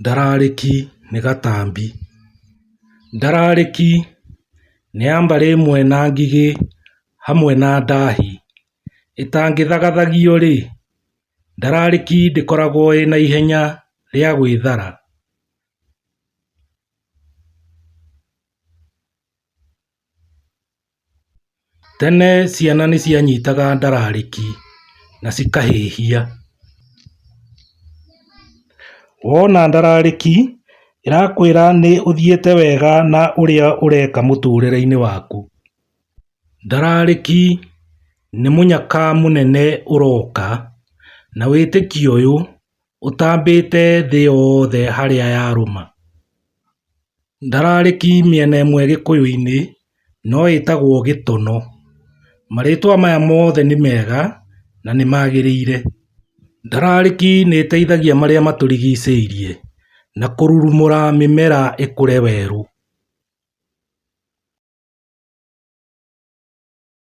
Ndararĩki nĩ gatambi. Ndararĩki nĩ ya mbarĩ ĩmwe na ngigĩ hamwe na ndahi. Ĩtangĩthagathagio-rĩ, ndararĩki ndĩkoragwo ĩna ihenya rĩa gwĩthara. Tene ciana nĩ cianyitaga ndararĩki na cikahĩhia. Wona ndararĩki ĩrakwĩra nĩ ũthiĩte wega na ũrĩa ũreka mũtũrĩre-inĩ waku. Ndararĩki nĩ mũnyaka mũnene ũroka na wĩtĩkio ũyũ ũtambĩte thĩ yothe harĩa yarũma. Ndararĩki mĩena ĩmwe gĩkũyũ-inĩ no ĩtagwo gĩtono. Marĩtwa maya mothe nĩ mega na nĩ magĩrĩire. Ndararĩki nĩ ĩteithagia marĩa matũrigicĩirie na kũrurumũra mĩmera ĩkũre werũ.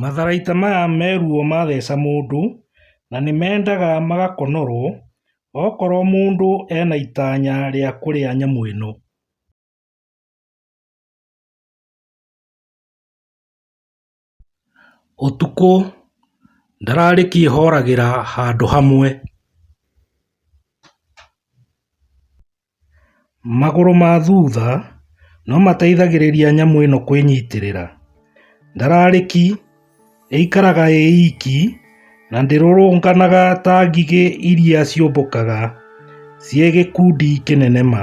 Matharaita maya me ruo matheca mũndũ na nĩmendaga magakonorwo okorwo mũndũ ena itanya rĩa kũrĩa nyamũ ĩno. Ũtukũ ndararĩ kĩĩhoragĩra handũ hamwe. Magũrũ ma thutha nomateithagĩrĩria nyamũ ĩno kwĩnyitĩrĩra. Ndararĩki ĩikaraga ĩ iki na ndĩrũrũnganaga ta ngigĩ iria ciũmbũkaga ciĩ gĩkundi kĩnene ma.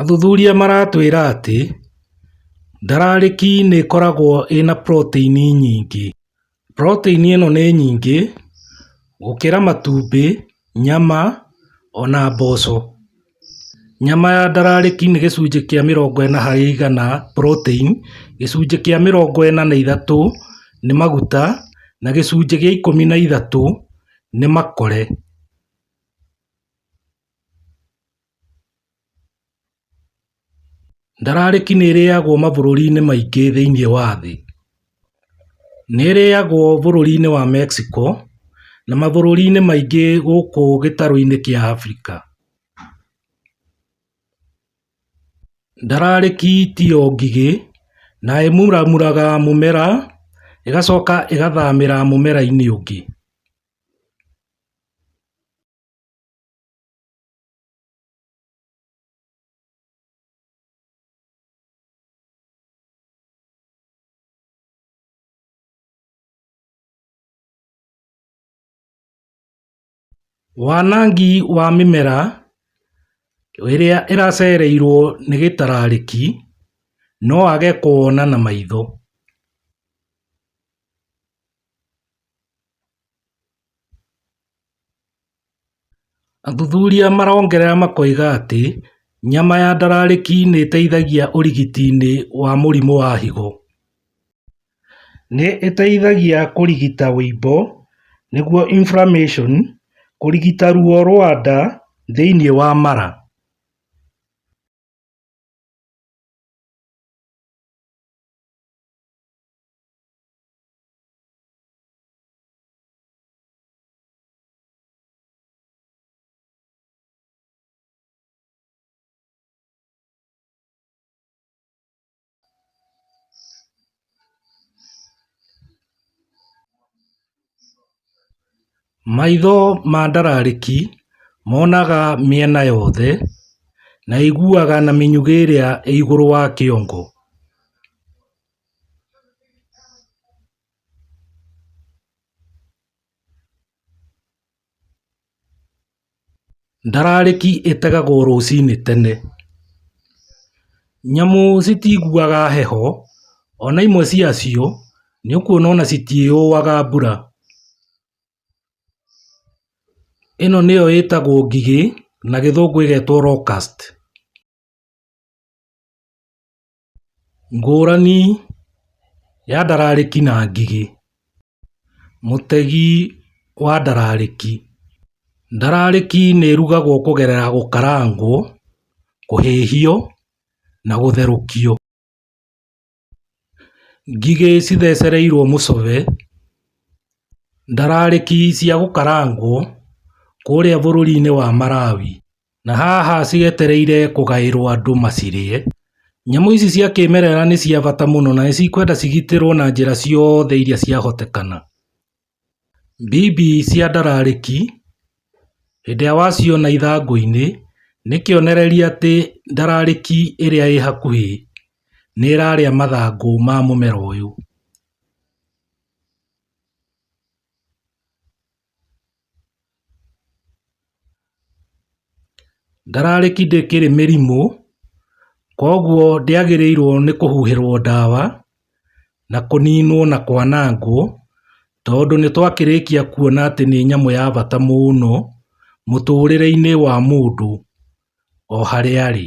Athuthuria maratwĩra atĩ ndararĩki nĩ ĩkoragwo ĩna proteini nyingĩ. Proteini ĩno nĩ nyingĩ gũkĩra matumbĩ, nyama ona mboco. Nyama ya ndararĩki nĩ gĩcunjĩ kĩa mĩrongo ĩna harĩ igana protein, gĩcunjĩ kĩa mĩrongo ĩna na ithatũ nĩ maguta na gĩcunjĩ gĩa ikũmi na ithatũ nĩ makore. Ndararĩki nĩ ĩrĩagwo mabũrũri-inĩ maingĩ thĩinĩ wa thĩ. Nĩ ĩrĩagwo bũrũri-inĩ wa Mexico na mabũrũri-inĩ maingĩ gũkũ gĩtarũ-inĩ kĩa Africa. Ndararĩki tiyo ngigĩ na ĩmuramuraga mũmera ĩgacoka ĩgathamĩra mũmera-inĩ ũngĩ. Wanangi wa mĩmera ĩrĩa ĩracereirwo nĩ gĩtararĩki no wage kũwona na maitho Athuthuria marongerera makoiga atĩ nyama ya ndararĩki nĩ ĩteithagia ũrigiti-inĩ wa mũrimũ wa higo. Nĩ ĩteithagia kũrigita ũimbo nĩguo inflammation, kũrigita ruo rwa nda thĩinĩ wa mara. Maitho ma ndararĩki monaga mĩena yothe, na ĩiguaga na mĩnyugĩ ĩrĩa ĩ igũrũ wa kĩongo. Ndararĩki ĩtegagwo rũcinĩ tene. Nyamũ citiiguaga heho, ona imwe cia cio nĩ ũkuona ona citiũaga mbura. Ĩno nĩyo ĩtagwo ngigĩ na gĩthũngũ ĩgetwo locust. Ngũrani ya ndararĩki na ngigĩ. Mũtegi wa ndararĩki. Ndararĩki nĩ ĩrugagwo kũgerera gũkarangwo, kũhĩhio na gũtherũkio. Ngigĩ cithecereirwo mũcove. Ndararĩki cia gũkarangwo kũrĩa bũrũri-inĩ wa Malawi. Na haha cietereire kũgaĩrwo andũ macirĩe. Nyamũ ici cia kĩmerera nĩ cia bata mũno na nĩ cikwenda cigitĩrwo na njĩra ciothe iria ciahotekana. Mbibi cia ndararĩki, hĩndĩ ĩrĩa waciona ithangũ-inĩ, nĩ kĩonereria atĩ ndararĩki ĩrĩa ĩ hakuhĩ nĩ ĩrarĩa mathangũ ma mũmera ũyũ. Ndararĩ kĩndũ kĩrĩ mĩrimũ, koguo ndĩagĩrĩirwo nĩ kũhuhĩrwo ndawa, na kũninwo na kwanangwo, tondũ nĩ twakĩrĩkia kuona atĩ nĩ nyamũ ya bata mũno mũtũrĩre-inĩ wa mũndũ o harĩa arĩ.